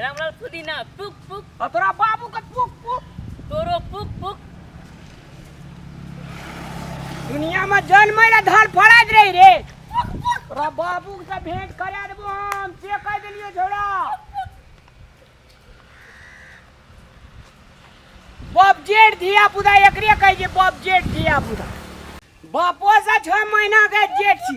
रामलाल पुदीना पुक पुक आ तोरा बाबू के पुक पुक तोरो पुक पुक दुनिया में जन्म रे धन फड़ाइत रही रे तोरा बाबू से भेंट करा देबो हम से कह देलियो झोड़ा बाप जेठ धिया पुता एकरे कह जे बाप जेठ धिया पुता बापो से छह महीना के जेठ छी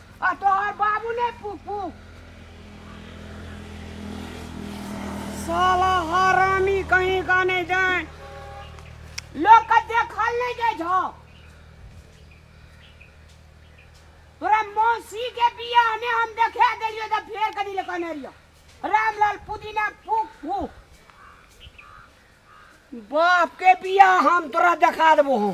आ तोहर बाबू ने फूक फूक साला हरामी कहीं का नहीं जाए लोग का देखल नहीं जाए छो तोरा मौसी के बियाह में हम देखे देलियो त फेर कनी ले कने रियो रामलाल पुदीना फूक फूक बाप के बियाह हम तोरा देखा देबो हम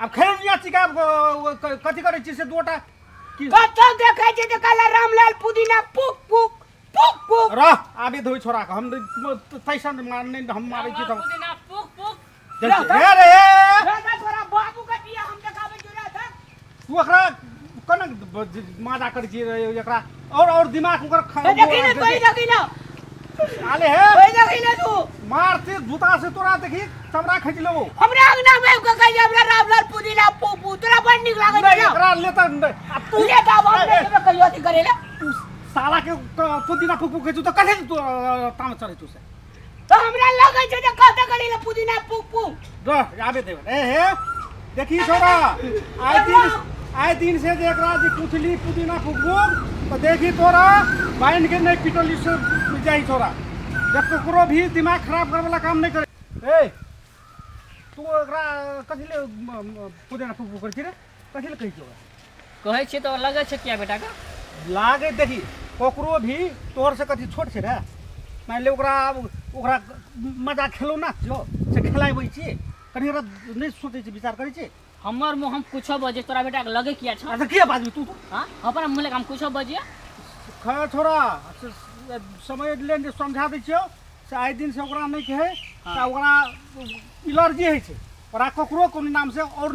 अब खेल दिया चिका कथी करे छी से दोटा कतो देखे छी त काला रामलाल पुदीना पुक पुक पुक पुक रह आबे धोई छोरा के हम तैसन मारने हम मारे छी त पुदीना पुक पुक रे रे तू एकरा कोना ब- ज- माजा करै छी रे एकरा और और दिमाग ओकर खा ए, देखी ना कोई देखी ना आले हे कोई देखी ना तू मारते जूता से तोरा देखी चमड़ा खींच लेबो हमरा अंगना में उनका कहे हमरा रामलाल पुदीना पोपू तोरा बड़ निक लागे नहीं, ना एकरा लेता नहीं। आ तू ले का बाप रे के कहियो अथी करेला तू साला के क- पुदीना फूक फूक के तू तो कहे तू ताम चढ़े तू से तो हमरा लगे छै जे कहते करी ले पुदीना पुक पुक दो आबे देबे ए हे देखी छोरा आइ दिन आइ दिन से जे एकरा जे पुछली पुदीना फुकबू तो देखी तोरा बाइन के नहीं पिटली से जाई छोरा जब ककरो भी दिमाग खराब करे वाला काम नहीं करे ए तू एकरा कथी ले म- म- पुदीना फुकबू करे छी रे कथी ले कहै छी ओकरा कहै छियै तऽ लगै छै किया बेटा के लागै देखी ककरो भी तोहर से कथी छोट छै रे मानि ले ओकरा आब ओकरा मजा खेलौना छियौ से खेलाबै छियै कनि ओकरा नहि सोचै छी विचार करै छी हमर मुँह हम कुछो बजे तोरा बेटा के लगे किया छ अच्छा किया बाजू तू हाँ अपन मुँह लगे हम कुछो बजिए खड़ा छोरा से- से- समय लेन जे समझा दै छियौ से आइ दिन से ओकरा नहि कहै हाँ। तऽ ओकरा एलर्जी होइ छै तोरा ककरो कोनो नाम से और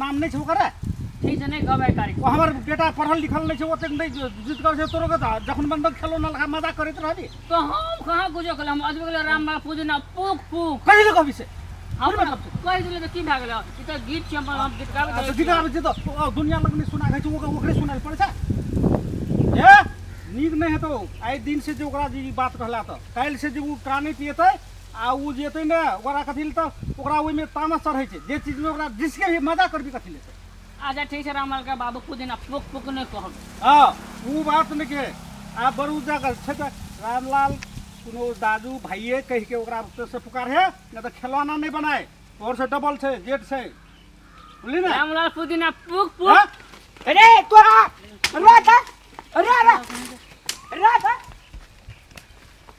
नाम नहीं छो करे ठीक से नहीं कहबे करी ओ हमर बेटा पढ़ल लिखल नहीं छो ओते नहीं जित कर से तोरो के तो जखन मन बंद खेलो ना लगा मजा करत रहबी तो हम कहां गुजो कल हम अजबे कल राम बाबा पूजे ना पूक पूक कहि ले कहबी से हम मतलब कहि दिले तो की भागल ई तो गीत के हम हम गीत गाबे अच्छा गीत गाबे जे तो ओ दुनिया लग में सुना गई छो ओकरे ओकरे सुनाल पड़े छै ए नीक नहीं हेतो आइ दिन से जे ओकरा जी बात कहला तो काल से जे उ प्राणी पियते आ ओ जे एतै ने ओकरा कथी लए तऽ ओकरा ओहिमे तामस चढ़ै छै जे चीजमे ओकरा जिसके भी मजा करबी कथी लए अच्छा ठीक छै रामलाल के बाबू कुछ दिन पोक पोक नहीं कहब हाँ वो बात नहीं के आ बड़ू जगह छै तऽ रामलाल कोनो दादू भाइये कह के ओकरा से पुकार है नहीं तो खिलौना नहीं बनाए और से डबल छै जेट छै बोली ना रामलाल कुछ दिन पोक पोक हाँ? अरे तोरा अरे अरे अरे अरे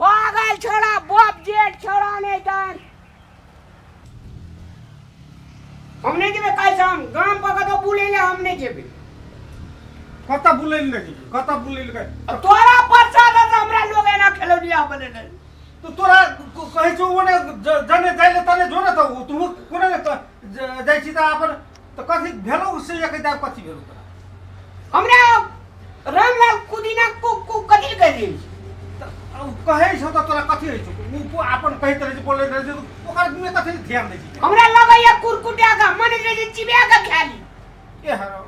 पागल छोड़ा बाप जेठ छोड़ा नहीं जान हम नहीं जेबे काल से हम गांव पर कतो बुले ले हम नहीं जेबे कता बुलैल नहीं कता बुलैल गए अब तोरा परसा दे से हमरा लोग एना खेलौनिया बने नहीं तो तोरा क- कहै छौ ओने ज- जने जाइले तने जो ने त तू कोने ने त- ज- जाइ छी त अपन तो कथी भेलो उससे ये कहता कथी भेलो तोरा हमरा रामलाल कुदीना को को कथी कह दी तो अब कहे छो तो तोरा कथी है छो वो अपन कहे तरह से बोले रहे जो ओकर में कथी ध्यान दे छी हमरा लगैया कुरकुटा का मन रे चिबिया का खाली ए हरो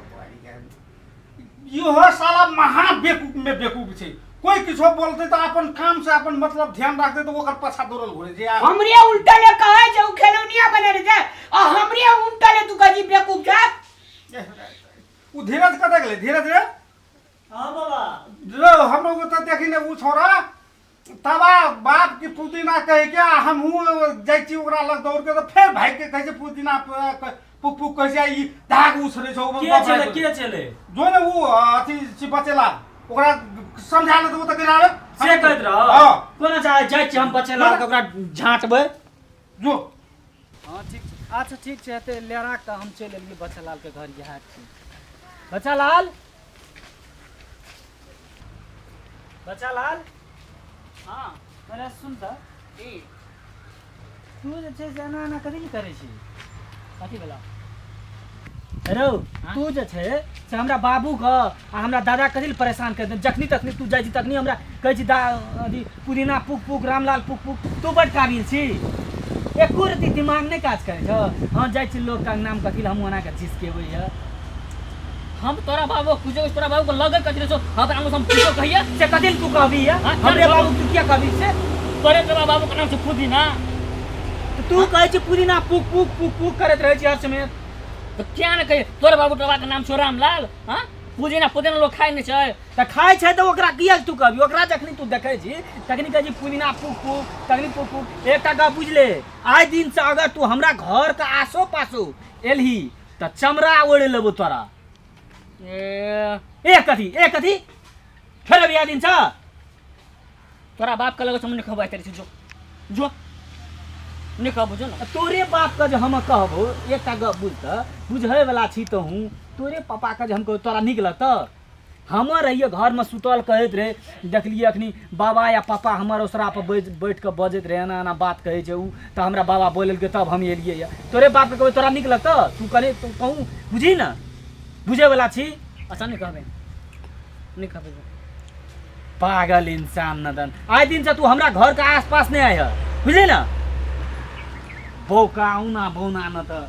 इहो साला महा बेकूफ में बेकूफ छै कोई किछो बोलते तो अपन काम से अपन मतलब ध्यान रखते तो ओकर पछा दौड़ल घुरे जे आ- हमरे उल्टा ले कहे जे उ खेलौनिया बने रहे छै आ हमरे उल्टा ले तू कही बेवकूफ छै उ धीरज कतऽ गेलै धीरज रे हाँ बाबा रो हमरो को तो देखी ने उ छोरा तबा बाप की पुदीना कहे के आ हम हूँ जाइ छी ओकरा लग दौड़ के तो फेर भाई के कहे पुदीना पुक पुक कहे छै ई धाग उसरे छौ के चले के चले जो ने वो अथी छी बचेला ओकरा समझा ले तो वो तो गिरावे से कहत रह हां कोना चाहे जाइ छी हम बचेला तो ओकरा झांटबे जो हाँ ठीक छै अच्छा ठीक छै एते ले राख तऽ हम चलि एलियै बच्चा लाल के घर इएह छै बच्चा लाल बच्चा लाल हाँ अरे सुन तऽ की तू जे छै से एना एना कथी लए करै छी कथी भेलौ रौ हाँ? तू जे छै से हमरा बाबू के आ हमरा दादा के दिल परेशान कर दे जखनी तखनी तू जाइ छी तखनी हमरा कहै छी दा अथी पुदीना पुक पुक रामलाल पुक पुक तू बड काबिल छी एको रति दिमाग नहि काज करै छौ हम जाइ छी लोक का नाम कथी लए हमहूँ ओना के जिसकेबै यऽ हम तोरा बाबू कुछ कुछ तोरा बाबू को लगे कथी सो हम हम हम कुछ कहिए से कदिल तू कहबी है हाँ, हमरे बाबू तू क्या कहबी से तोरे तोरा बाबू का नाम से पुदीना तो तू कहे छी पुदीना पुक पुक पुक पुक करत रहे छी हर समय तो क्या न कहिए तोरे बाबू टोबा का नाम छो रामलाल हां पुदीना पुदीना लोग खाए नहीं छै त खाए छै त ओकरा किया तू कहबी ओकरा जखनी तू देखे छी तखनी कहे छी पुदीना पुक पुक तखनी पुक पुक एकटा गप बुझले आइ दिन से अगर तू हमरा घर के आसो पासो एलही तऽ चमड़ा ओढ़ि लेबो तोरा ए ए कथी ए कथी फेर बिया दिन छ तोरा बाप के लगे से हम नहीं कहबै तेरे से जो जो नहीं कहबो जो ना तोरे बाप के जे हम कहबो एकटा गप बुझ तऽ बुझै वला छी तऽ हूँ तोरे पापा के जे हम कहबो तोरा नीक लगतौ हमर रहिए घर में सुतल कहत रहे देखलिए अखनी बाबा या पापा हमर ओसरा पर बैठ बैठ के बजत रहे एना एना बात कहे छे उ त हमरा बाबा बोलल के तब हम एलिए या तोरे बाप के कहबे तोरा निक लगत तू कने तू कहूं बुझी ना बुझे वाला छी अच्छा नहीं कहबे नहीं कहबे पागल इंसान नदन आए दिन से तू हमरा घर के आसपास नहीं आय है बुझे ना बौका ना बौना न त